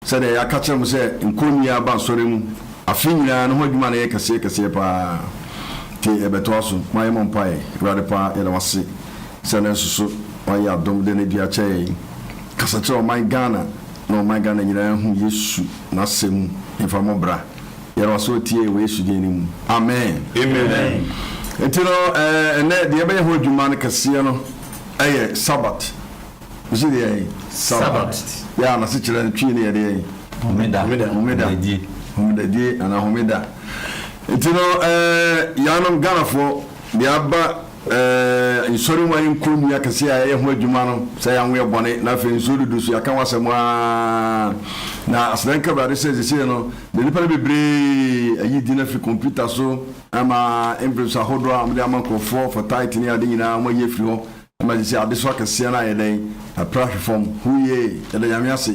Sɛdeɛ yɛaka akyerɛ mo sɛ nkɔnnie aba asɔre mu afe nyinaa no ho adwuma no yɛ kɛseɛ kɛseɛ pa ara nti ɛbɛtoa so. Ma yɛmmɔ mpaeɛ. Awurade pa, yɛda wo ase sɛ ɛnnɛ nso so woayɛ adom de anadwo yi akyɛ yɛn. Kasa kyerɛ ɔman Ghana na ɔman Ghana nyinaa nhu Yesu n'asɛm mu mfamu bra. Yɛda wo ase sɛ wotie yɛn wɔ Yesu din no mu. Amen. Nti no ɛnnɛ deɛ yɛbɛyɛ ho adwuma no kɛseɛ no yɛ Sabat. Mese deɛn? Sabat. Yɛ a n'asekyerɛ no twi no yɛ deɛn? Homeda. Homeda. Homedadie. Homedadie anaa homeda. Nti no eh, yɛanom Ghanafoɔ deɛ aba eh, nsɔre mu a yɛnkɔ nni akɛseɛ a yɛyɛ ho adwuma no sɛ yɛanwo yɛ bɔne na afei nso dudu so yɛaka ho asɛm aa na aseda nka Awurade sɛ sesei no deɛ nnipa no bebree ayi din afiri kɔmputa so ama mprɛnsu ahodoɔ a wɔde ama nkurɔfoɔ for tithe ne ade nyinaa wɔayi afiri hɔ Ɛma sisi adesoa kɛseɛ no ayɛ dɛn? Apira ahwe fam. Hooyee! Yɛda Nyame ase.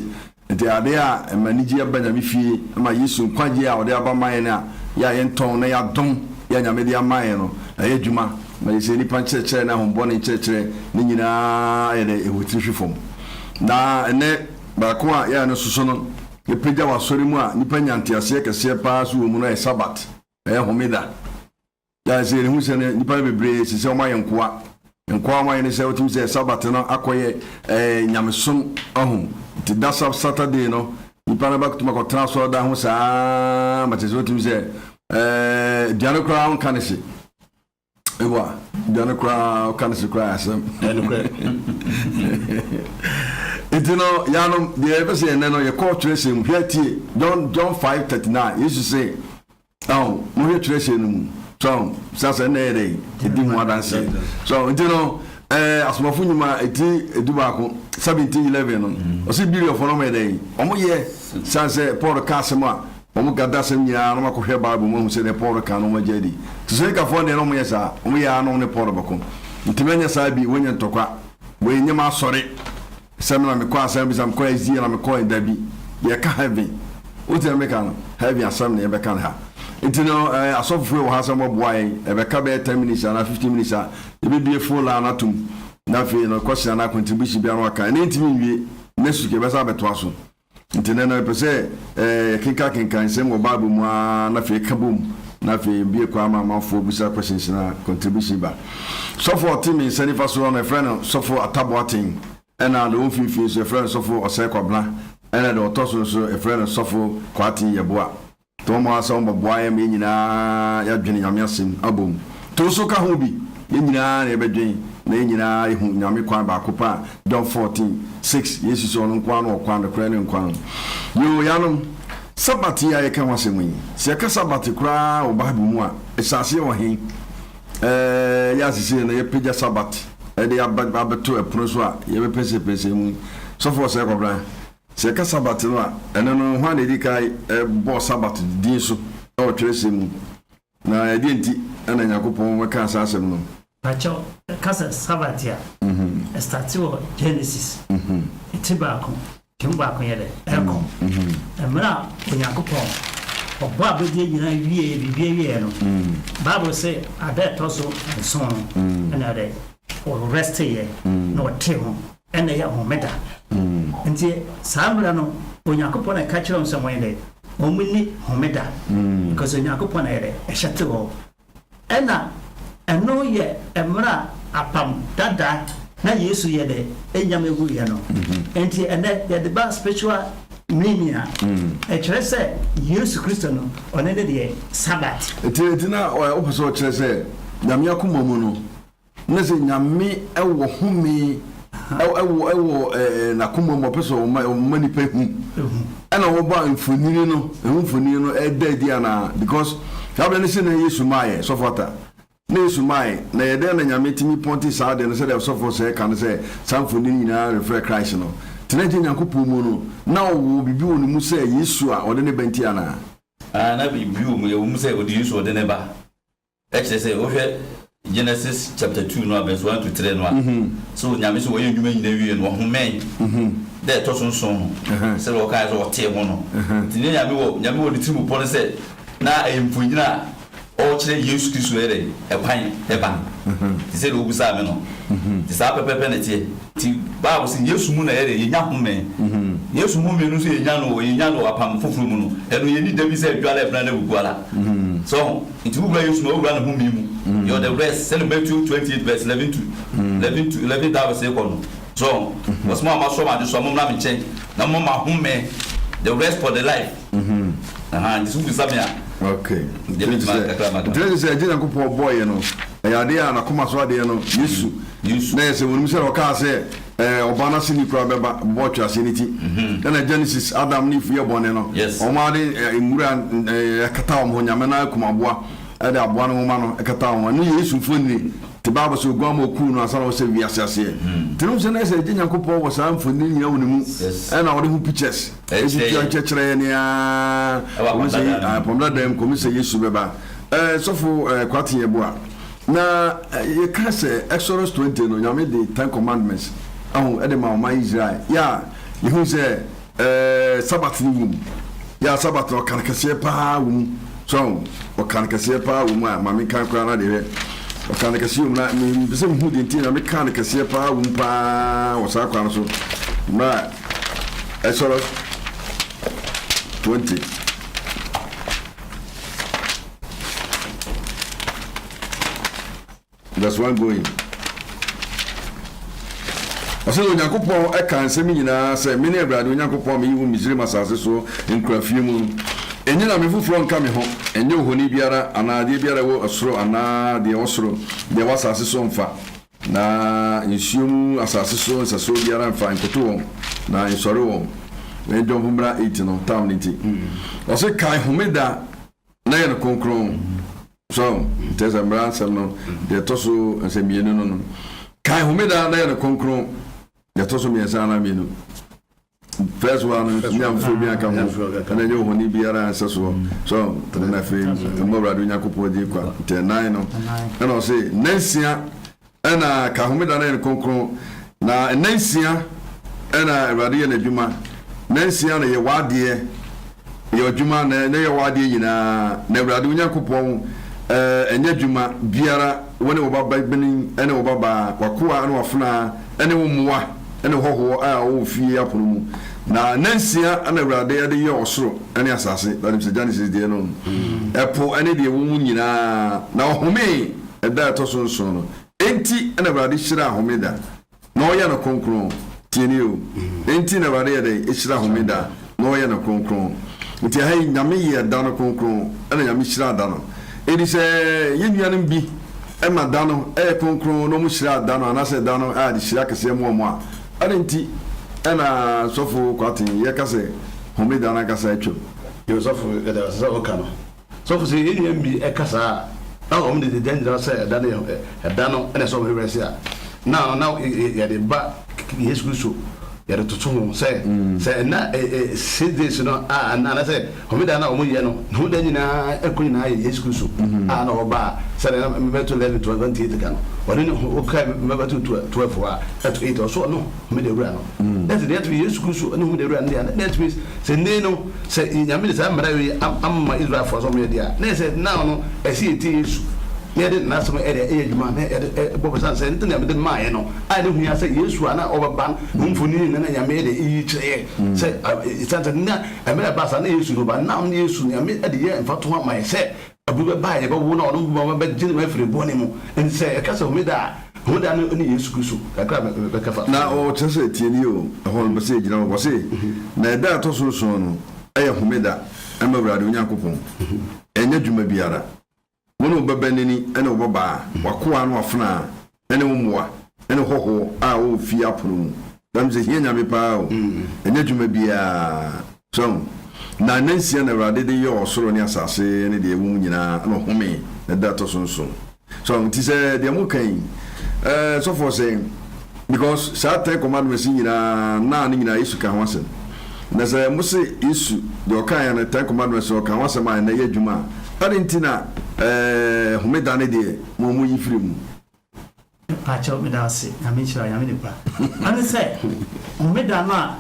Enti adeɛ a ɛma anigyeɛ ba Nyame fie, ɛma Yesu nkwagyeɛ a ɔde aba ma yɛn a yɛ a yɛntɔn na yɛadom yɛ a Nyame de ama yɛn no, ɛyɛ adwuma ma yɛn sɛ nnipa nkyerɛkyerɛ ne ahombɔne nkyerɛkyerɛ no nyinaa ayɛ dɛn? Ɛwɔ tiri hwe fam. Na ɛnnɛ baako a yɛ a no soso no, yɛpagya wɔ asɔre mu a nnipa nya nteaseɛ kɛseɛ paa so wɔ mu no yɛ Sabat, ɛyɛ homeda. Yɛayɛ sɛ yɛrehu sɛ nnɛ nnipa no bebree te sɛ wɔayɛ nkoa. Nkoa a wɔayɛ ne sɛ wotumi sɛ Sabat no akɔyɛ ɛɛ nyamesom. Wahu? Nti da sab Saturday no, nnipa no bɛtumi akɔtena asɔredan ho saa ara ma kyerɛ sɛ wotumi sɛ ɛɛ aduane koraa nka ne se. Ewa, aduane koraa ɔka ne se koraa asɛm. Ɛnokorɛ. Nti no, yɛanom deɛ yɛpɛ sɛ yɛnnɛ no yɛkɔ twerɛsɛm mu hwɛ tie John John 5:39 Yesu se Ɔn, monhwɛ twerɛhyɛ no mu. So, sa sɛ ɛnna ɛyɛ dɛ ɛdi ho adanseɛ. So, nti no, ɛɛ eh, asomafo nyuma ɛti ɛdu baako, 17, 11 no, mm. ɔsi Bereafoɔ no ɔmɛ dɛ, ɔmo yɛ, sa sɛ Paul ka asɛm a, ɔmo gada asɛm nyinaa, ɔmo akɔhwɛ Bible mu ahu sɛ deɛ Paul ka no ɔmo agya adi. Tesalonikafoɔ deɛ na ɔmo yɛ saa, ɔmo yɛ ara na ɔmo ne Paul bɛko. Ntumi anyɛ saa bi, wɔnyɛ ntɔkwa, wɔnyɛ ma asɔre. Sɛ me na mekɔ asɛm bi sɛ mekɔ Asia na mekɔ ɛda bi yɛka heaven wote na meka no heaven asɛm na yɛbɛka no ha nti no eh, asɔfofoɔ wɔ ha sɛ wɔbɛboa yɛn ɛbɛka bɛyɛ ten minutes anaa fifteen minutes a yɛbɛbie phone line no atom na afei no question anaa contribution biara no waka ɛnɛ ntumi nwie next week yɛbɛsan abɛtoa so. Enti nnɛ no, yɛpɛ sɛ yɛkenkankenkan nsɛm wɔ Bible mu ara na afei yɛka bom, na afei yebue kwan ma amanfoɔ bisa questions na contribution ba. Sɔfo a ɔte me nsa nifa so no, yɛfrɛ no Sɔfo Atta Boateng, ɛnna deɛ ɔwɔ mfimfini nso, yɛfrɛ no Sɔfo Osei Kwabena, ɛnna deɛ ɔtɔ so nso, yɛfrɛ no Sɔfo Kwarteng Yeboah. Tom ho asɛm bɛboa yɛn ma yɛn nyinaa yɛadwene Nyame asɛm abom. To nso ka ho bi. Yɛn nyinaa na yɛbɛdwen na yɛn nyinaa yɛhu Nyame kwan baako pɛ a, John fourteen, six, Yesu se Ɔno nko ara na ɔwɔ kwan, nokorɛ ne nkwa no. Yoo, yanom! Sabbath yi a yɛka ho asɛm yi, sɛ yɛka Sabbath koraa wɔ Bible mu a, ɛhyɛɛ aseɛ wɔ he? Eeh, yɛ a sesei no yɛpagya Sabbath de abɛto ɛpono so a yɛbɛpɛnsɛpɛnsɛ mu yi, Sɔfoɔ Ɔsɛe Kwabena, Sɛ yɛka Sabat no a, ɛno no, hwan na edi kan bɔɔ Sabat din so wɔ Kyerɛwsɛm mu, na ɛdeɛn nti na Onyankopɔn kaa saa asɛm no? Fa kyɛw, yɛka sɛ Sabat a, ɛstate wɔ Genesis ne ti baako de mu baako yɛ dɛ? Ɛrekɔ. Mmerɛ a Onyankopɔn Ɔbɔɔ abɛdeɛ nyinaa wieɛ, biribiara wieɛ no, Bible se ada a ɛtɔ so nson no, ɛna ɔdɛ? Ɔrɛsteeɛ, na ɔtee ho. Ɛnna ɛyɛ Homeda. Nti saa mmerɛ no, Onyankopɔn na ɛka kyerɛɛ wɔn sɛ wɔnyɛ dɛ? Wɔnni Homeda, because Onyankopɔn na ɛyɛ dɛ? Ɛhyɛ too hɔ. Ɛnna ɛno yɛ mmerɛ a apam dada na Yesu yɛ dɛ? Ɛnnyam ɛwuiɛ no. Nti ɛnnɛ yɛde ba spiritual meaning a, ɛkyerɛ sɛ Yesu Kristo no, ɔno ne deɛ Sabbath. Nti na ɔpɛ sɛ ɔkyerɛ sɛ Nyame akoma mu no, Na sɛ Nyame wɔ home wɔ N'akoma mu, Ɔpɛ sɛ Ɔma nipa hu, ɛna wɔba mfonini no, ɛho mfonini no ɛda adi anaa? Because saa berɛ no se na Yesu maayɛ, Sɔfo Atta, na Yesu maayɛ, na ɛyɛ dɛn na Nyame tumi pɔnte saa ade no, sɛdeɛ Sɔfo Sɛɛ ka no sɛ saa mfonini no nyinaa refrɛ Christ no? Tena agya Nyankopɔn mu no, na ɔwɔ biribi wɔ ne mu sɛ Yesu a ɔde ne ba nti anaa? Anaa na biribi wɔ mu, ɛwɔ mu sɛ ɔde Yesu a ɔde ne ba Kyerɛ sɛ, wohwɛ Genesis chapter two no a verse one to three no a, sɛ Onyame sɛ ɔyɛ nnwuma nyina wiee no, ɔhomee da ɛtɔ so nson no, sɛdeɛ ɔkaeɛ sɛ ɔtee ho no. Nti ne Nyame wɔ Nyame wɔ ne tiri mu pɔ no sɛ na ɛyɛ mfonyin a ɔrekyerɛ Yesu Kristo yɛ dɛn? Ɛkwan ɛba no. Nti sɛdeɛ wobisaa me no, nti saa pɛpɛɛpɛ na ɛteɛ. Nti Bible se Yesu mu na yɛ dɛn? Yɛnya homee. Yesu homee no nso yɛnya no wɔ, yɛnya no wɔ apam foforɔ mu no, ɛno yɛnni da bi sɛ dwala ɛbena no agu guala. So ho? Nti wo wura Yesu ma wo wura ne ho mii mu yɔ the rest sɛne Matthew twenty eight verse eleven to eleven to eleven daa wɔ see kɔ no so ɔho ɔse mo a moasɔ mo adesoa mommra me nkyɛn na mo ma home me the rest for the life ahaa nti so wo bisa me a deɛ me gyima kakra maka. Nti ɛkyɛ sɛ agye Nyankopɔn bɔɔyɛ no ɛyɛ adeɛ a nakoma so adeɛ no Yesu na ɛyɛ sɛ wɔnim sɛ ɔkaa sɛ. Ɛɛ, Ɔba no aseni koraa bɛba bɔ ɔtweaseɛ no ti. Ɛna Genesis, Adam ne Eve yɛ bɔne no, Yes. wɔade ɛ, nwura n- ɛ, akata wɔn ho, Nyame no akum aboa, ɛde aboa no nwoma no kata wɔn ho. Ɛno yɛ Yesu mfonini. Nti Bible sɛ Oguamma ɔkuu no ansa na wɔsɛ wiase aseɛ. Nti ne ho sɛ na ɛsɛ yɛgye Nyankopɔn wɔ saa mfonini no nyinaa wɔ ne mu, Yes. ɛna wɔde ho pictures Ɛkyerɛ ɛde tua yɛn. nkyɛkyerɛ yɛn nea Ɛwɔ wɔn sɛ Apam Dada no mu. Apam Dada mu kɔmhyɛ sɛ Yesu bɛba. Ɛɛ, Sɔfo ɛɛ, Kwati Yeboah, Na yɛka sɛ Exodus twenty no Nyame de ten commandments ahu ɛde ma ɔman Israel yɛ a yɛhu sɛ ɛɛ Sabbath no wom yɛ a Sabbath no ɔkan kɛseɛ paa wɔ mu so ahu ɔkan kɛseɛ paa wɔ mu a ma menkan koraa na deɛ ɔkan kɛseɛ wɔ mu na mepɛ sɛ mehu deɛ nti na mekaa no kɛseɛ paa wɔ mu paa wɔ saa kwan no so na Exodus twenty Verse 1 going. Ɔsɛ na Onyankopɔn ɛka nsɛm yi nyinaa sɛ, Mene Awurade Onyankopɔn a meyi wo Misraim asase so nkurafie mu. Nnye nyame foforɔ nka me ho, nnye ohoni biara anaa adeɛ biara a ɛwɔ soro anaa deɛ ɛwɔ soro, deɛ ɛwɔ asase so mfa, na nsuo mu asase so nsɛsoɔ biara mfa nkoto wɔn, na nsɔre wɔn. Ɛyɛ John Ho Mmara 8 no, tam no nti. Ɔse, Kae homeda. Na yɛ no kronkron. So nkyɛ sɛ mmara nsɛm no deɛ ɛtɔ so nsɛm mmienu no no kae homeda na yɛ no kronkron deɛ ɛtɔ so mmiɛnsa anaa mmienu first one no nyamfoɔ bi anka ho ɛna nyɛ ohoni biara nsɛ soɔ so ɛna afei mmɔ awurade onyankopɔn din kwa nti ɛnan no ɛna ɔse nansia Ɛna ka homeda no yɛ no kronkron, na nna nsia ɛna Awurade yɛ n'adwuma, nna nsia na yɛ w'adeɛ, yɛ adwuma na yɛ w'adeɛ nyinaa, na Awurade wo Nyankopɔn ɛnyɛ adwuma biara, wo ne wo babanin ne wo babaa, w'akoa ne w'afenaa ne wo mmoa ne hɔhoɔ a wɔwɔ wo fie apono mu, na nna nsia na Awurade ɛde yɛɛ ɔsoro ne asase, that is Genesis deɛ no, ɛpo ne deɛ ɛwɔ mu nyinaa, na ɔhomee. ɛda a ɛtɔ so nson no. Enti na Awurade hyira Homeda, na ɔyɛ no kronkron. Tie nie o. Enti na Awurade yɛ dɛn? Hyira Homeda, na ɔyɛ no kronkron. Enti ɛha yi, Nyame yɛɛ da no kronkron, ɛna Nyame hyiraa da no. Enti sɛ yɛn nuanom bi ma da no yɛ kronkron na wɔhyiraa da no, anaasɛ da no de hyira kɛseɛ ma wɔn a, adɛn nti na Sɔfo Kwarteng yɛka sɛ Homeda no ankasa atwam? Yɛwɔ Sɔfo, yɛda wo ase sɛ woka no. Sɔfo se yɛn nuanom bi ka saa a, na wɔn de gyegya ngyina hɔ sɛ ɛda no yɛ ɛda no na ɛsɛ wɔn hwɛ wɛse a, na na yɛde ba Yesu Kristo yɛde toto ho sɛ sɛ na six days no a ana sɛ homeda na wɔn yɛ no na homeda nyinaa ɛko nyinaa yɛ Yesu Kristo a na ɔba a sɛ na mɛto eleven to twenty eight ka no ɔne ne ho wokae mɛto twelve a ɛto eight ɔso ɔno homeda wura no. na ɛte dɛn ato Yesu Kristo ne Homeda Wura no de a, na ɛtumi sɛ nnɛyi no sɛ Nyame de saa mmara wei ama Israelfoɔ a sɛ wɔyɛ deɛ a, na ɛyɛ sɛ now no ɛsɛ yɛtie Yesu na yɛde N'asɛm deɛ ɛyɛ adwuma na yɛde bɔ bra sane sɛ nneɛma a mede maaeɛ no a na ɛho hia sɛ Yesu a na ɔbɛba no ne Ho mfoni no na na Nyame de yi kyerɛ yɛn sɛ sane sɛ na mmerɛ ɛbaa saa na Yesu no ba now no Yesu Nyame de yɛ mfatoho ama yɛn sɛ Obi bɛba a yɛbɛwo no a ɔno mpo bɛgye ne ho afiri bɔne mu. Enti sɛ yɛka sɛ Homeda a, Homeda no ne Yesu Kristo. Kakra a mɛka afa so. Na ɔkyerɛ sɛ tie nie o, ɛhɔ na mepɛ sɛ yɛgyina. Ɔbɔ se, Na ɛda a ɛtɔ so nson no yɛ Homeda ma Awurade wo Nyankopɔn. Ɛnyɛ dwuma biara. Wo ne wo bɛbɛ nini ne wo babaa, w'akoa ne w'afenaa ne wo mmoa ne hɔho a ɔwɔ fie apono mu na mesɛ hia nyame paa o ɛnyɛ adwuma biaa so na nna nsia na awurade de yɛ ɔsoro ne asase ne deɛ ɛwɔ mu nyinaa na ɔhome na da tɔ so nson so nti sɛ deɛ mo kan sɔfoɔ sɛ because saa ten commandments nyinaa na ne nyinaa yesu ka ho asɛm na sɛ mo se yesu deɛ ɔka yɛ no ten commandments ɔka ho asɛm a ɛnɛ yɛ adwuma a ade nti na homeda ne deɛ mo a mo yi firi mu. Pakyɛw meda ase nyame nhyira nyame nipa ɛne sɛ homeda no a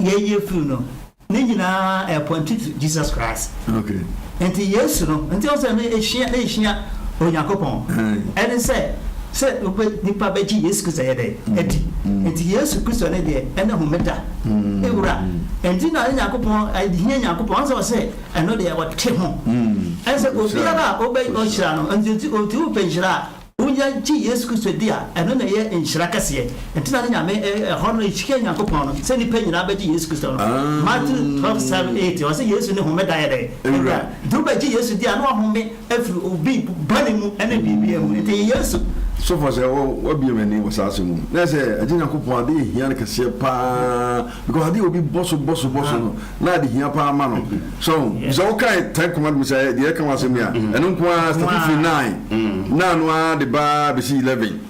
yɛyi afiri no ne nyinaa ɛ pointi to Jesus Christ okay nti yesu no nti ɔn sɛ ne ehyia ne ehyia onyankopɔn ɛne sɛ sɛ wopɛ nipa bɛgye yesu kristo yɛ dɛ ɛdi nti yesu kristo ne deɛ ɛne homeda ewura ɛnti na ne nyankopɔn ɛhia nyankopɔn ɔn sɛ ɔsɛ Ɛno deɛ wɔte ho. Ɛne sɛ obiara a wobɛyi no nhyira no, ɛno nti nti wopɛ nhyira a, wonya gye Yesu Kristo di a, ɛno na ɛyɛ nhyira kɛseɛ. Ɛnti na ne Nyame ɛhɔ no ɛhia Nyankopɔn no sɛ nnipa nyinaa bɛgye Yesu Kristo no. Matthew twelve seven, eight, ɔse Yesu ne homeda yɛ dɛn? Awura. Nti wobɛgye Yesu di a na wahome afiri obi bɔne mu ɛne biribiara mu. Nti yi Yesu. Sɔfoɔ sɛ wɔ wabie m'ani wɔ saa asɛm mu. Na ɛsɛ agye Nyankopɔn adeɛ ɛhia no kɛseɛ paa because adeɛ obi bɔso bɔso bɔso no. na ade hia paa ma no. So ho? Sɛ wokae Ten Commandments a, deɛ ɛka ho asɛm ni a, mm. ɛno nko ara start firi nine mm. na ano ara de ba bɛsi eleven.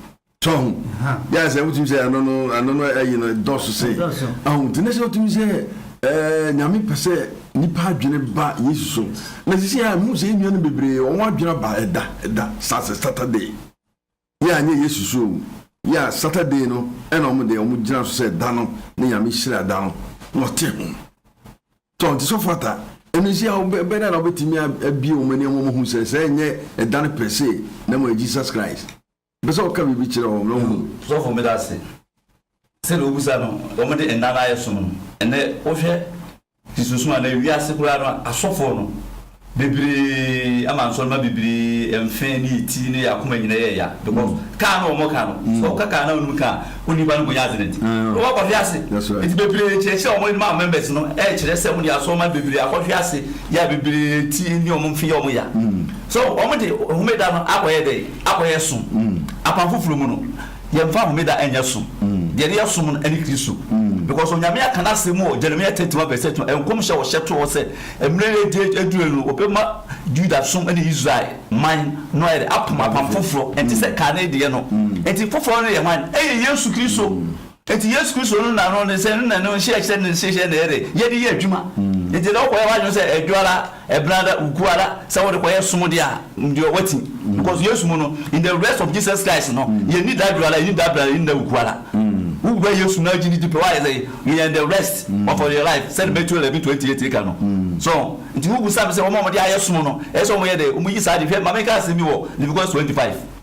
So ho? Yɛ sɛ wotumi sɛ ɛno no ɛno no ɛyi no dɔso se. Ahu nti ne sɛ wotumi sɛ ɛɛ nyame pɛ sɛ nipa adwene ba Yesu so. Na sisi a mu sɛ nnua no bebree wɔn adwene ba ɛda ɛda sase Saturday. Yɛ a nyɛ Yesu so o, yɛ a Saturday no na ɔmo de ɔmo gyina so sɛ da no ne Nyame hyira da no na ɔte ho. Tɔ nti sɔfo ata ɛno nsi a bɛ da na ɔbɛtumi abie ɔmo ani ama ɔmo ahu sɛ sɛ nyɛ ɛda no pɛ se na mmɔ yɛ Jesus Christ pɛ sɛ ɔka biribi kyerɛ ɔmo na ɔmo hu. Sɔfo medase Sɛdeɛ wobisa no wɔde nna no ayɛ som no, ɛnnɛ wohwɛ Kristo som a ɛnɛ wiase koraa no asɔfoɔ no bebree ama nsɔrema bebree mfe ne yɛ ti ne yɛ akoma nyina yɛ ya because kaa no wɔn ka no sɛ woka kaa na wonim kaa wo nipa no kɔnya accident na wakɔhwe ase nti bebree kyerɛkyerɛ wɔn de ma wɔn members no ɛkyerɛ sɛ wɔn de asɔrema bebree akɔhwe ase yɛ a bebree ti ne wɔn mfe yɛ wɔn ya so wɔn de homeda no akɔyɛ dɛ akɔyɛ som akwan foforɔ mu no Yɛmfa homeda nyɛ som. Deɛ yɛreyɛ som no ne Kristo. Because Onyame aka n'asɛm wɔ Jeremiah thirty one verse thirty one, nkɔmhyɛ a ɔhyɛ too hɔ sɛ, mmerɛ no adie aduree no wɔbɛma Judah som ne Israel man no ayɛ dɛ apam apam foforɔ, ɛnte sɛ kane deɛ no. Enti foforɔ no yɛ hwan? Ɛyɛ Yesu Kristo. Enti Yesu Kristo no na no ne sɛ no na no nhyɛɛkyerɛ ne nhyehyeɛ na ɛyɛ dɛ yɛde yɛ adwuma. Enti ɛnɛ wokɔyɛ w'adwene sɛ ɛdwo ara. Ɛbenada wo ku ara sɛ wode kɔyɛ som deɛ a ndeɛ wati because Yesu mu no in the rest of Jesus Christ no yɛ ni dadwere ara yɛni da brɛ yɛni da wo ku ara wo wura Yesu na agye nidi pɛ wayɛ sɛ me yɛ in the rest of your life sɛde Matthew 11 28 reka no so nti wo bu sa me sɛ wɔn a wɔde ayɛ som no ɛsɛ wɔn yɛ dɛ wɔn yi saa de hwɛ ma me nka asɛm bi wɔ Leviticus 25.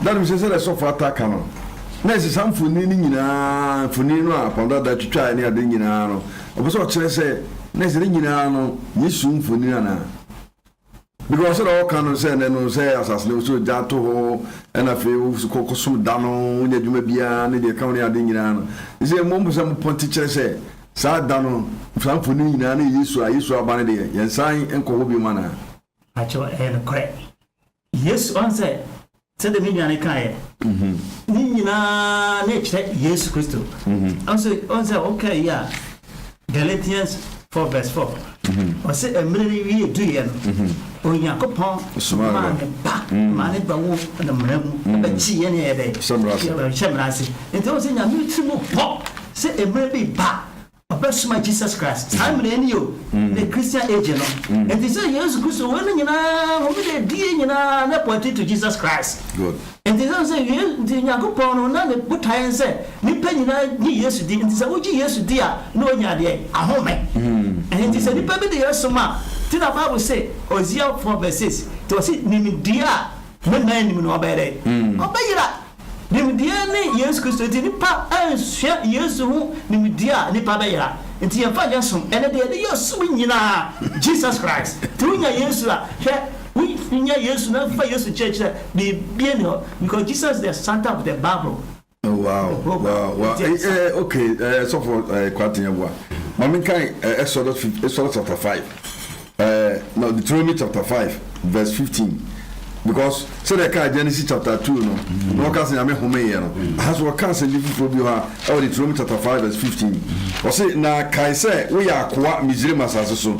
Dad mise sɛdeɛ sɔfo Atta ka no na ɛsɛ saa mfonini no nyinaa mfonini no a Kwamdada twitwaeɛ ne ade nyinaa no ɔpɛ sɛ ɔkyerɛ sɛ na ɛsɛ ne nyinaa no Yesu mfonini anaa because sɛdeɛ ɔka no sɛ ɛnɛ no sɛ asase no sɛ ogya to hɔ ɛna afei wokɔsom da no wonya adwuma biara ne deɛ ɛka ho ne ade nyinaa no ɛsɛ mmom pɛ sɛ mo pɔnte kyerɛ sɛ saa da no saa mfonini nyinaa ne Yesu a Yesu aba no deɛ yɛnsan nkɔ hɔ bio mu anaa? Pacho ɛyɛ nokorɛ. Yesu, ɔn sɛ, sɛdeɛ me nua no kaeɛ, ne nyinaa na ɛkyerɛ Yesu Kristo. Ɔn sɛ, ɔn sɛ wo kae yi a, Galatians four verse four, ɔse mmerɛ no wie duiɛ no, Onyankopɔn somaa ne Ba maa ne Ba woo no mmara mu bɛ kyee yɛn ne yɛyɛ dɛn? Hyɛ mmara ase. Nti ɔn sɛ Nyame tiri mu pɔ sɛ mmerɛ bi ba Ɔpɛ som a Jesus Christ, saa mmerɛ yi no yɛ o, ne Christian Age no, enti sɛ Yesu Kristo, wei no nyinaa, homeda adie nyinaa na pointed to Jesus Christ. Good. Enti sɛ sɛ Ye, nti Nyankopɔn no na ne botaeɛ ne sɛ nnipa nyinaa gye Yesu di, nti sɛ wogye Yesu di a na wɔnya deɛ? Ahome. Ɛhɛ nti sɛ nnipa bi de yɛ som a, nti na Bible se, Hosea four verse six, nti wɔse, Nimdeɛ a ne mma nnim no ɔbɛyɛ dɛn? Ɔbɛyera. Nimdeɛ ne Yesu Kristo nti nnipa ansua Yesu ho nimdeɛ a nnipa bɛyera nti yɛmfa nyɛ som ɛnɛ deɛ yɛde yɛ som nyinaa Jesus Christ nti wonya Yesu a hwɛ wonya Yesu na fa Yesu nkyerɛkyerɛ biribi nni hɔ because Jesus is the center of the Bible. Wow, wow, wow. Eh, eh, okay, eh, so for eh, Kwatenya Boa. Mami kai eh, Exodus, Exodus chapter 5. Eh, no, Deuteronomy chapter five verse fifteen, because sɛdeɛ ɛkaa Genesis chapter two no, na ɔka sɛ Nyame homeeɛ no, aha nso ɔka asɛm bi foforɔ bi hɔ a, ɛwɔ Deuteronomy chapter five verse fifteen, ɔse, Na kae sɛ woyɛ akoa Misraim asase so,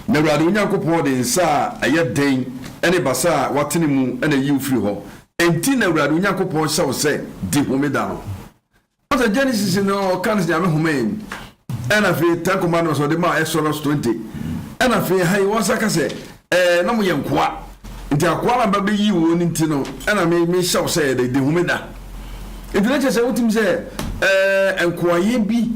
na Awurade wo Nyankopɔn de nsa a ɛyɛ den ne basa a watene mu na ayi wo firi hɔ, enti na Awurade wo Nyankopɔn hyɛ wo sɛ di homeda no. Ɔka sɛ Genesis no ɔka no sɛ Nyame homee no, ɛna afei Ten Commandments ɔde maa Exodus 20, ɛna afei ha yi wɔn nsa ka sɛ ɛɛ na moyɛ nkoa, nti akoa na meba bɛyii wɔn no nti no ɛna me mehyɛ wo sɛ yɛ dɛ, di homeda. Nti na kyerɛ sɛ wotumi sɛ ɛɛ nkoayɛ bi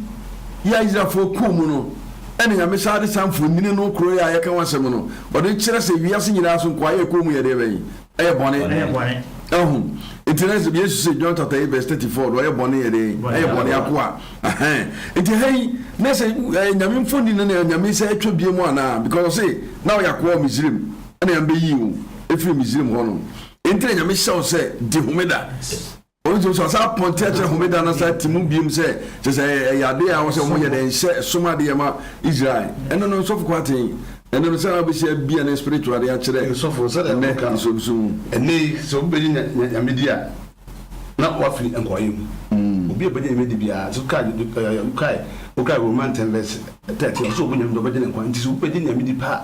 yɛ a Israelfoɔ kɔɔ mu no ɛna Nyame saa de saa mfonini no koro yɛ a yɛka ho asɛm no ɔde kyerɛ sɛ wiase nyinaa so nkoayɛ ɛkɔɔ mu yɛ deɛ bɛn? Ɔyɛ bɔne. Ɔyɛ bɔne. Ɛho. Nti na sɛ Yesu sɛ John chapter eight verse thirty four do ɔyɛ bɔne yɛ den. Ɛyɛ bɔne ako a. Ɛhɛn. Nti ha yi na sɛ ɛɛ nyame mfoni no na nyame sɛ ɛtwa bie mu anaa because ɔse na ɔyɛ akoa wɔ Misrim ɛna nyame bɛyii wo efiri Misrim hɔ nom. Nti na nyame hyɛ wo sɛ di homeda. Ɔresi nso a, saa apɔnten a ɛkyerɛ Homeda no san te mu bio sɛ kyerɛ sɛ ɛyɛ ade a ɛwɔ sɛ wɔyɛ dɛ nhyɛ som ade yɛ ma Israel. Ɛno no, nsɔfo kɔ aten ɛno no sɛnea wobesi abia ne spiritual ade akyerɛ nnɛ nsuaniso mu. Ɛnnɛ yi, sɛ obi benya Nyamedi a, na wafi nkoayɛ mu. Obi a obenya Nyamedi biara, nso kae Luka, wokae Roman ten vs thirteen, ɔsɛ obu Nyame dɛ ɔbɛgye no nkwa. Nti sɛ obi bɛgye Nyamedi pɛ a,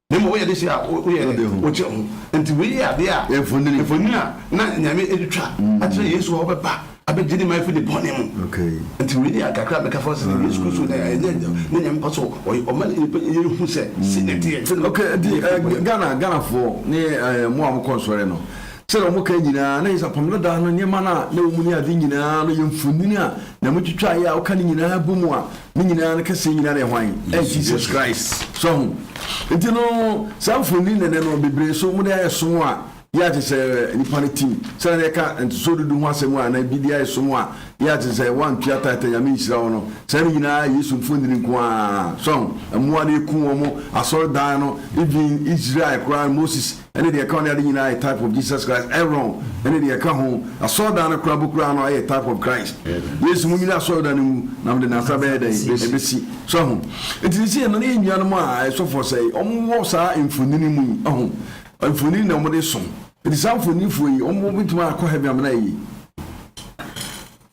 Na mmom woyɛ dehye a woyɛ dɛ wogye wo ho. Enti wei yɛ adeɛ a, mfonini a na Nyame atwitwa akyerɛ Yesu a ɔbɛba abɛgye ne man afiri ne bɔne mu. Enti wei deɛ kakra a mɛka fa sɛ deɛ Yesu Kristo yɛ no, ɛnyɛ ne Nyame mpa so, ɔma nnipa hu sɛ se na ɛteɛ, sɛdeɛ ɔbɛyɛ a ne yɛfiri bɔne mu. Ghana, Ghanafoɔ ne mo a mokɔ nsɔre no, sɛdeɛ wɔka nyinaa, na yɛ sɛ Apam Dadaa no nneɛma no a na ɛwɔ mu ne ade nyinaa no yɛ mfonini a Nyame twitwaeɛ a woka ne nyinaa bɔ mu a, Ne nyinaa no kɛseɛ nyina no yɛ hwan? Ɛyɛ Jesus Christ. So ahu? Nti no saa mfoni nɛnɛ no bebree so wɔde ayɛ som a yɛ a kyerɛ sɛ nipa no tim sɛdeɛ na yɛka ntosoɔ dudu ho asɛm a anaa bi de ayɛ som a yɛ a kyerɛ sɛ woantua tithe Nyame nhyira wo no saa no nyinaa yɛ Yesu mfonini nko ara. So ahu? Mmoa no yɛku wɔn, asɔredan no, even Israel koraa no Moses ɛne deɛ ɛka ho ne ade nyinaa yɛ type of Jesus Christ, Aaron ne deɛ ɛka ho, asɔredan no koraa mpo koraa no ɛyɛ type of Christ, Yesu mo nyini asɔredan no ngu na mede nansa bɛyɛ dɛn? ɛbɛsi, so ahu? Nti ne sɛ yɛ nane anuanom a ɛyɛ sɔfoɔ sɛ wɔn wɔ saa mfonini mu yi, ahu? mfonini na wɔn de som, nti saa mfoninifoɔ yi wɔn bɛtumi akɔ heaven amena ɛyɛ?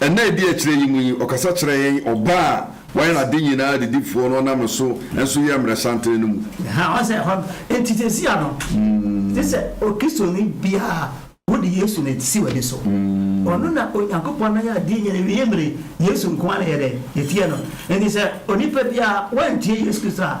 Nna a edi akyire yi mu yi, ɔkasa kyerɛɛ yɛn ɔba a wayɛ no ade nyinaa dedifoɔ no, ɔnam ne so nso yɛɛ mmerɛsanten no mu. Ɛha, ɔn sɛ ɛhɔ no, enti sesia no, te sɛ Okristoni biara a, wode Yesu na ɛsi w'ani so. Ɔno na Onyankopɔn na yɛ adeɛ nyinaa awieɛ mmire, Yesu nko ara na yɛ dɛn? Yɛtie no. Enti sɛ onipa biara, woantie Yesu Kristo a,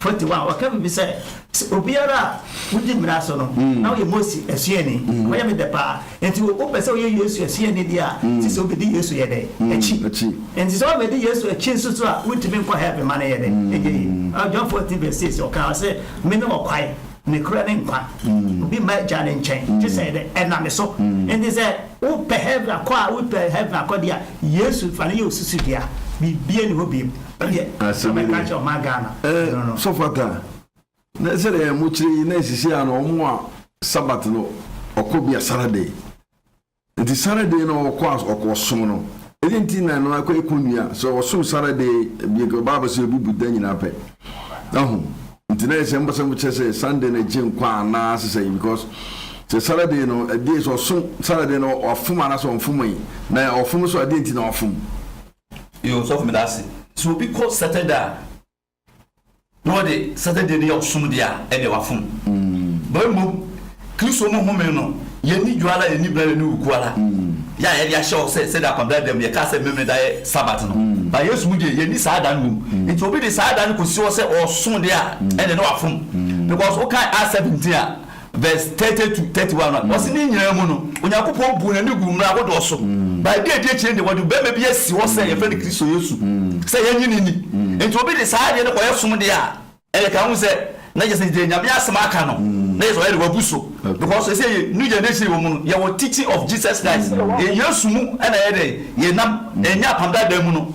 Foto one, Ɔka biribi sɛ, Sɛ obiara a wodi mmara so no, na woyɛ Mose asuani a, wayɛ me dɛ paa. Enti wopɛ sɛ woyɛ Yesu asuani deɛ a, ɛsɛ sɛ wobɛdi Yesu yɛ dɛ? Akyi. Enti sɛ woammɛdi Yesu akyi nso so a, worentumi nkɔ heaven. Ma no yɛ dɛ? Ɛnyɛ yie. John fourteen verse six, Ɔkaa sɛ, Mene ɔkwan. Ne kra ne nkwa bi mma Agya no nkyɛn, gye sɛ yɛde ɛnam ne so. Enti sɛ wopɛ heaven akɔ a, wopɛ heaven akɔ deɛ a, Yesu fa no yɛ wo susudua. Biribiara nni hɔ bio. Ɛndeɛ, sɛ wobɛka akyerɛ ɔman Ghana no no. Sɔfo Atta, na sɛdeɛ mokyerɛ yi, na ɛsisi a na wɔn a Sabbath no, wɔkɔ bia Saturday. Nti sare dee no ɔkɔ as ɔkɔ ɔsom no edi nti na ɛno ɛkɔ ɛkɔ nua sɛ ɔsom sare dee bie kɛ bible sɛ obi bu da nyinaa pɛ ahu nti na ɛsɛ mbɔsɛ mo kyɛ sɛ Sunday no gye nkwa anaa ase sɛ yi because sɛ sare dee no ɛdee sɛ ɔsom sare dee no ɔfom anaa sɛ ɔnfom yi na ɔfom so ɛdee nti na ɔfom. Yoo sɔfo meda ase. Sɛ obi kɔ Saturday a Na ɔde sɛdɛ deɛ no yɛ ɔsom deɛ a, ɛdeɛ wafom. Bere mmom Kristo mu home no yɛ nni dwo ara, ɛnni bere, ɛne wuku ara, yɛ a yɛde ahyɛ hɔ sɛ sɛdeɛ Akwaberɛ da mu yɛkaa sɛ Memeneda yɛ Sabat no. Ba Yesu mu deɛ, yɛnni saa da no wom. Nti obi de saa da no kɔsi hɔ sɛ ɔsom deɛ a, ɛnde na wafom. Because wokan Acts seventeen a, Verse thirty two, thirty one, a, ɔse, Ne nyinaa mu no, Onyankopɔn buu n'ani guu mmara ahodoɔ so. Baabi a ɛdi akyire no deɛ, wɔde ɔbarima bi asi hɔ sɛ yɛfrɛ no Kristo Yesu, sɛ yɛnnye no nni. Enti obi de saa adeɛ no kɔyɛ som deɛ a, ɛnneɛ ka hu sɛ na kyerɛ sɛ deɛ Nyame asɛm aka no, na kyerɛ sɛ ɔyɛ deɛ wabu so. Because seesei yɛ New Generation wɔ mu no, yɛwɔ Teaching of Jesus Christ. Yesu mu na yɛyɛ dɛn? Yɛnam, ɛnyɛ apam daadaa mu no.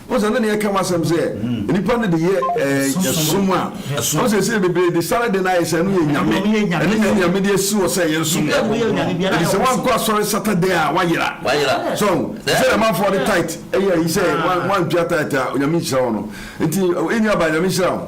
Ɔsɛ ɛno na yɛka ho asɛm sɛ nnipa no de yɛ ɛsom a ɛso. Ɔsɛ ɛsɛ bebree de sara de no ayɛ sɛ ɛno yɛ nyame. Ɛno nyɛ nyame de asi hɔ sɛ yɛn som no. Ɛde sɛ wankɔ asɔre Saturday a wayera. So ɛsɛ dɛ amanfoɔ ɔde tight ɛyɛ ayi sɛ wantua tight a onyame nhyira wɔn no. Nti ɛyi nua baa nyame nhyira wo.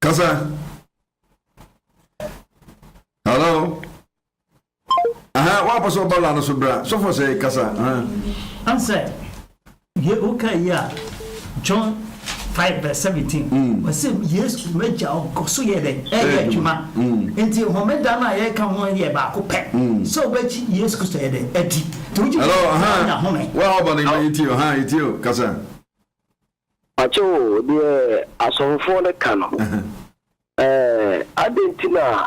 kasa hello aha wapɛ sɛ ɔba la no so bra sɔfo sɛ kasa ansɛ yɛ woka yi a john 5 verse 17 ɔsɛ mm. yesu magya ɔkɔ so yɛ dɛ ɛyɛ adwuma mm. nti homeda no a yɛka ho yɛ baako pɛ mm. sɛ wobɛgye yesu kristo yɛ dɛ adi nti wogye nya home wa ɔba no yɛtie ɔha yɛtie kasa Pakyɛw o, deɛ asɔfofoɔ no ka no, eh, adɛn nti na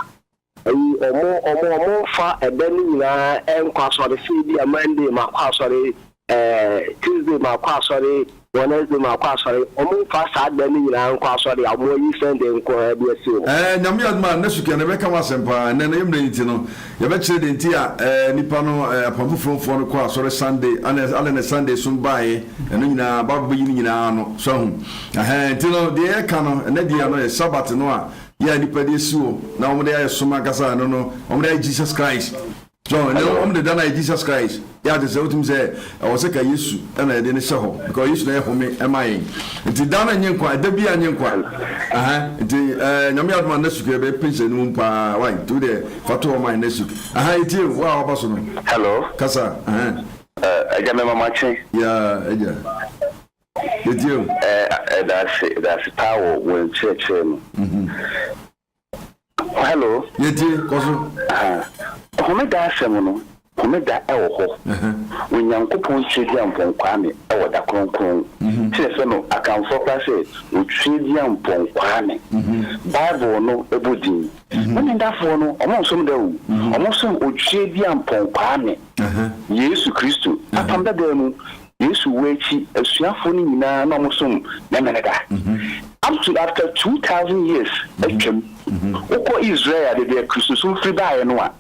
ayi, ɔmo, ɔmo, ɔmo mfa ɛda no nyinaa nkɔ asɔre, sɛ ebi a Monday makɔ asɔre, eh, Tuesday makɔ asɔre, Wednesday makɔ asɔre, ɔmo mfa saa da no nyinaa nkɔ asɔre a, ɔmo ayi Sunday nko ara de asi hɔ. Eh, Nyame adom a, na Sukia na ɛbɛka w'asɛm paa, ɛnnɛ no, yɛ mmerɛ yi nti no, Yɛbɛkyerɛ deɛ nti a ɛɛ nipa no ɛɛ Apam Foforɔmfoɔ no kɔ asɔre Sunday ana ana na Sunday som baeɛ ɛno nyinaa bible bɛyi no nyinaa ano so ahu ɛhɛn nti no deɛ yɛka no ɛnɛ deɛ no yɛ Sabbath no a yɛ a nipa de asi hɔ na wɔn de ayɛ som ankasa ɛno no wɔn de ayɛ Jesus Christ so ɛnɛ wɔn de da no ayɛ Jesus Christ. Yɛ a te sɛ wotumi sɛ ɛwɔ sɛ ka Yesu na yɛde no hyɛ hɔ because Yesu na yɛ home ɛma yɛn nti da no nyɛ nkwa ɛda bi a nyɛ nkwa ɛhɛn nti ɛɛ nyame adoma next week yɛbɛ pinhyɛ no mu paa wai nti wodeɛ fa to hɔ ma yɛ next week ɛhɛn yɛtie wo a waba so no Hello. kasa ɛhɛn. Eh, agya mema makye. Yeah, agya. Yɛtie wo. Eh, ɛdaase, ɛdaase paa wɔ wɔn nkyerɛkyerɛ no. Mm-hmm. Hello. Yɛtie, kɔ so. Homeda asɛm no, Homeda wɔ hɔ. Onyankopɔn Tweaduampɔn Kwame wɔ da kronkron. Kyerɛ sɛ no, akamfoɔ koraa sɛ, Otweaduampɔn Kwame. Bible no bɔ din. Womendafoɔ no, wɔnsom da o. Wɔsom Otweaduampɔn Kwame, Yesu Kristo, apam dadaa mu. Yesu wu akyi, asuafoɔ no nyinaa na wɔsom Nyame no da. Up to after 2000 years atwam, wokɔ Israel a baabi a Kristosom firi baeɛ no a,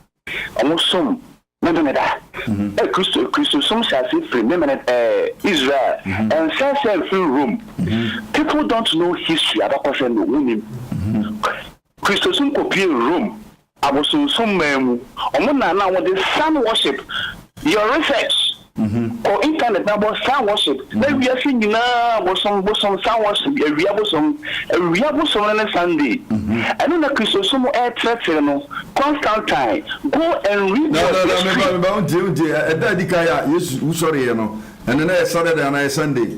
wɔsom Nyame no da. Ɛ Kristo Kristosom hyɛ aseɛ firi Nyame no ɛɛ Israel, ɛnhyɛ aseɛ mfiri Rome. People don't know history, abakɔsɛm no, wonnim. Kristosom kopuee Rome abosonsom man mu. Wɔn na na wɔde sun worship yɛ research. Kɔ Intanɛt na bɔ sun worship na wiase nyinaa bosom bosom sun worship awia bosom. Awia bosom no ne Sunday. Ɛno na Kristosom rekyerɛkyerɛ no. Constantine, go and read your history. Daadaa meba meba wontie wontie ɛda a ɛdi kan a Yesu wusɔreɛ no ɛno na ɛyɛ Saturday anaa ɛyɛ Sunday?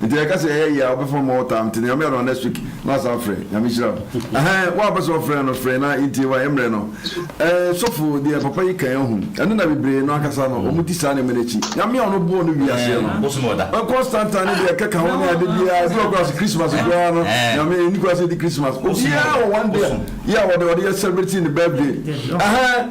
Nti yɛka sɛ yɛyɛ yie a wobɛfa mu ma wo time nti nyame adoma next week na wasan afrɛ nyame nhyira wo ɛhɛn wo a pɛsɛ ɔfrɛ no frɛ na yɛntie wa yɛmmrɛ no ɛɛ sofo deɛ papa yi kan ahu ɛno na bebree no ankasa no ɔmo di saa nneɛma no akyi nyame a ɔno bɔɔ no wi aseɛ no ɔyɛ constanta ne deɛ ɛkeka ho ne ade biara ɛduru ɔkora so christmas koraa no nyame ɛni kora sɛ ɛdi christmas obiara wɔ one day a yɛ a wɔde wɔde yɛ celebrating ne birthday ɛhɛn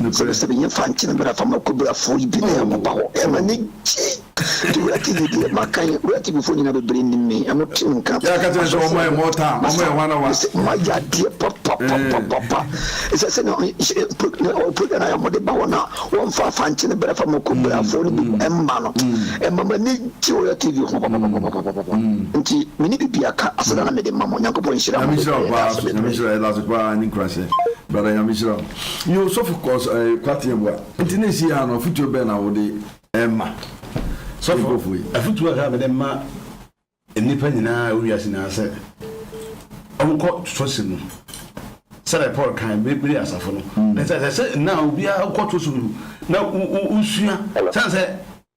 Nokorɛ sɛ, yɛmfa nkyene bra fa ma kɔbirafoɔ yi bi na yɛakɔpa hɔ, ɛma no gye. Nti Wura TV deɛ, maka yi, Wura TV foɔ nyinaa bebree nim me, ɛno te menka, asɔfoɔ no, masa, mese moayɛ adeɛ papapapapapa, ɛsɛ sɛ na ɔyɛ, program no a mode ba hɔ no a, wɔmfa afa nkyene bra fa ma kɔbirafoɔ no bi mma no, ɛma m'ani gye Wura TV ho papapapapapa, nti mene biribiara ka, aseda na mede ma mo, Nyankopɔn nhyira mo bebree, yɛda ase bebree. Yi osɔfo kɔs ɛɛ kwateɛ boa. Nti ne nsi yaa no afutuo bɛn na wode ɛma nkorɔfoɔ yi? Sɔfo, afutuo a mede ma nnipa nyinaa ɛwɔ wiase nyinaa sɛ wɔnkɔ totɔsɛm mu. Sɛdeɛ Paul kae bere bere asafo no, ɛsɛ sɛ nna a obiara kɔ totɔsɛm mu na wosua sɛn sɛ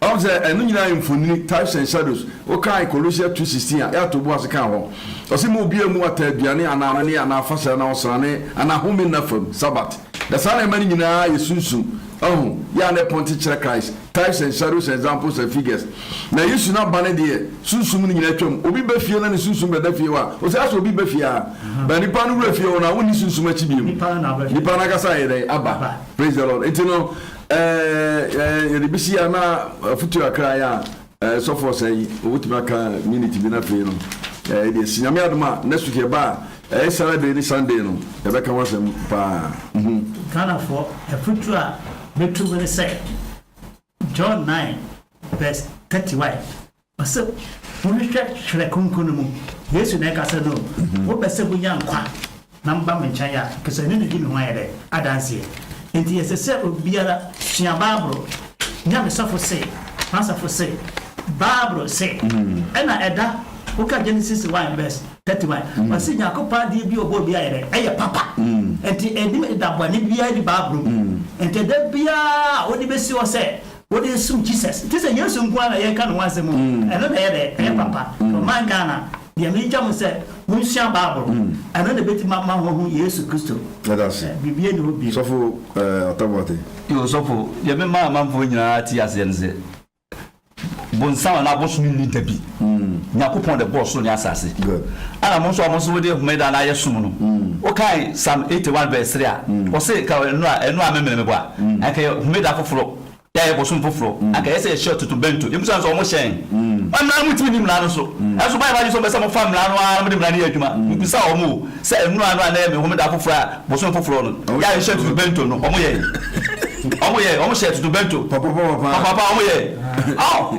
Ɔho sɛ ɛno nyinaa yɛ mfonini, types and shadows. Wokae Colossians 2:16 a, yɛ a to bo ase ka ho. Ɔse, Mma obiara mmu ataa aduane anaa anonneɛ anaa afahyɛ anaa ɔsrane anaa home nna fam, Sabbat. Na saa nneɛma no nyinaa yɛ sunsum. Ɔho, yɛ a na ɛpɔn te kyerɛ Christ, types and shadows and examples and figures. Na Yesu n'aba no deɛ, sunsum no nyinaa twam. Obi ba fie na ne sunsum bɛda fie hɔ a, ɔsɛ ara sɛ obi ba fie ara. But nnipa no wura fie hɔ no a, wonni sunsum akyi bio. Nnipa no ankasa ayɛ dɛn? Aba. Praise the Lord. Enti no, Ɛɛ ɛɛ yɛde besi a na afutu akra yɛ a ɛɛ sɔfo ɔsɛ yi ɔbɛtumi aka minute bi na afei no ɛɛ yɛde asi nyame adom a next week yɛba a ɛyɛ Saturday ne Sunday no yɛbɛka ho asɛm paa. Mhm. Ghanafoɔ, afutuo a mɛtu mo ne sɛ, John nine verse thirty one, Ɔse monhwehwɛ twerɛ kronkron no mu, Yesu na ɛkasa no o, mopɛ sɛ monya nkwa na moba me nkyɛn a, Kristohene no di me ho ayɛ dɛ adanseɛ. Enti ɛsɛ sɛ obiara sua Bible, nya me sɔfo se, m'asafo se, Bible se, ɛna ɛda, woka Genesis 1 vs 31, ɔse Nyankopɔn adeɛ biara ɔbɔɔ biara yɛ dɛ, ɛyɛ papa, enti ɛnim da bɔne biara nni Bible mu, enti ɛda biara a wode bɛsi hɔ sɛ, Wode som Jesus te sɛ Yesu nko ara na yɛka ne ho asɛm o, ɛno na ɛyɛ dɛ, ɛyɛ papa. Ɔman Ghana, deɛ mekyɛ mo sɛ monsua Bible, ɛno na ɛbɛtumi ama mo ahu Yesu Kristo. Yɛda ase. Biribiara nni hɔ bio. Sɔfo Ɔtɔboate. Yoo sɔfo, deɛ mema amanfoɔ nyinaa te aseɛ ne sɛ, bonsam anaa abosom nni da bi. Nyankopɔn na bɔɔ soro ne asase, ana mo nso a mo nso wode homeda no ayɛ som no, wo kae Psalm eighty one verse three a, ɔse nka ɛno a ɛno a memene me bɔ a, anka ɛyɛ homeda foforo, yɛ ayɛ bosom foforo, anka ɛyɛ sɛ yɛhyɛ totorobɛnto, yɛbisa no sɛ wɔn hyɛn, wɔn mmara no mo ntumi nni mmara no so, nanso mo ayɛ mo adwene sɛ wɔn pɛ sɛ mo fa mmara no ara na mo de mmara no yɛ adwuma, mebisa wɔn o, sɛ ɛno a ɛno a na ɛyɛ me homeda foforo a bosom foforo no, yɛ a yɛhyɛ totorobɛnto no, wɔn yɛe? wɔn yɛe, wɔn hyɛɛ totorobɛnto, papaapa wɔn yɛe, aw!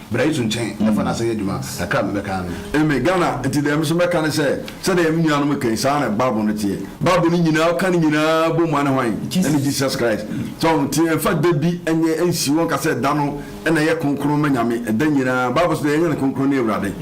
Bra Yesu nkyɛn na fa n'asɛyɛ adwuma kakra a mebɛka ano no. Amen. Ghana, nti deɛ meso mɛka ne sɛ, sɛdeɛ yɛn nuanom kae saa na bible no teɛ. Bible no nyinaa ɔka no nyinaa bom a ne hwan? Ɛne Jesus Christ. So ahu? Nti ɛmfa da bi nyɛ nsiw hɔ nka sɛ ɛda no na ɛyɛ kronkron ma Nyame. Ɛda nyinaa. Bible se deɛ yɛnyɛ no kronkron ne Awurade.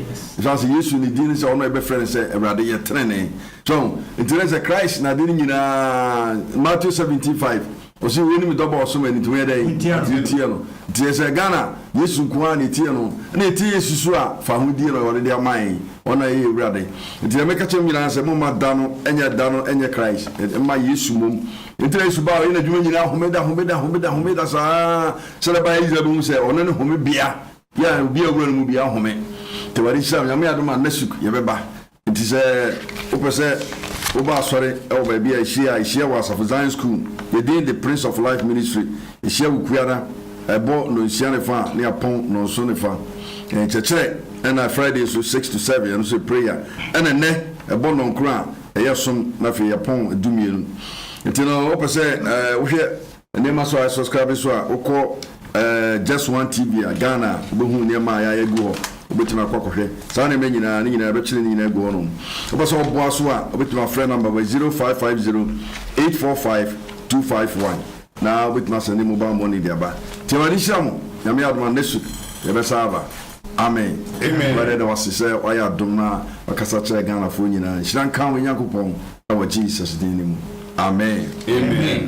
So ahu sɛ Yesu ne din ne sɛ ɔno a yɛbɛfrɛ no sɛ Awurade yɛ trenee. So ahu? Nti ne sɛ Christ na ade no nyinaa. Matthew seventeen five. Ɔse woni me dɔba ɔsom ani nti wo yɛ dɛn nti wo tie no nti yɛ sɛ Ghana yesu nko ara na etie no ɛna etie yesu so a fa ho die na ɔde de ama yɛn ɔno a yɛ yɛ wura de nti deɛ meka kyerɛ mo nyinaa sɛ mo mma da no ɛnyɛ da no ɛnyɛ Christ mma yesu mom nti na yesu ba a ɔyɛ na dwuma nyinaa homeda homeda homeda homeda saa sɛ dɛ ba yɛ Israel bɛhu sɛ ɔno ne home bea yɛ a obi a wura no mu bia home nti awurade nhyira me nyame yɛ adom a nɛsuk yɛ bɛba Enti sɛ wopɛ sɛ woba asɔre wɔ baabi a ɛhyia a, hyia wɔ Asafo Zion School. Yɛn din de Prince of Life Ministry. Ɛhyia wɔ Kuada, ɛbɔ nnɔnsia ne fã ne apɔn nnɔnson ne fã. Ɛyɛ nkyɛkyerɛ, ɛnna Friday nso six to seven, ɛno nso yɛ prayer, ɛnna ɛnnɛ ɛbɔ nnɔnkron a ɛyɛ som, na afei apɔn dummienu. Enti no wopɛ sɛ wohwɛ. Nneɛma so a subscribe so a wokɔ eh, just one tv a Ghana wobɛhu nneɛma a yɛayɛ gu hɔ wobɛtumi akɔ akɔhwɛ saa nneɛma nyinaa ne nyinaa yɛbɛkyere ne nyinaa gu hɔ nom wopɛ sɛ ɔboa so a wobɛtumi afrɛ number wɔ 0550845251 na wobɛtumi asɛnde mobile money de aba nti awurade nhyira mo nyame yɛ adoma nɛ su yɛbɛsa aba amen awurade da wase sɛ wayɛ adom na wakasa kyerɛ Ghanafoɔ nyinaa nhyira nka wo nyankopɔn wɔ Jesus din no mu amen amen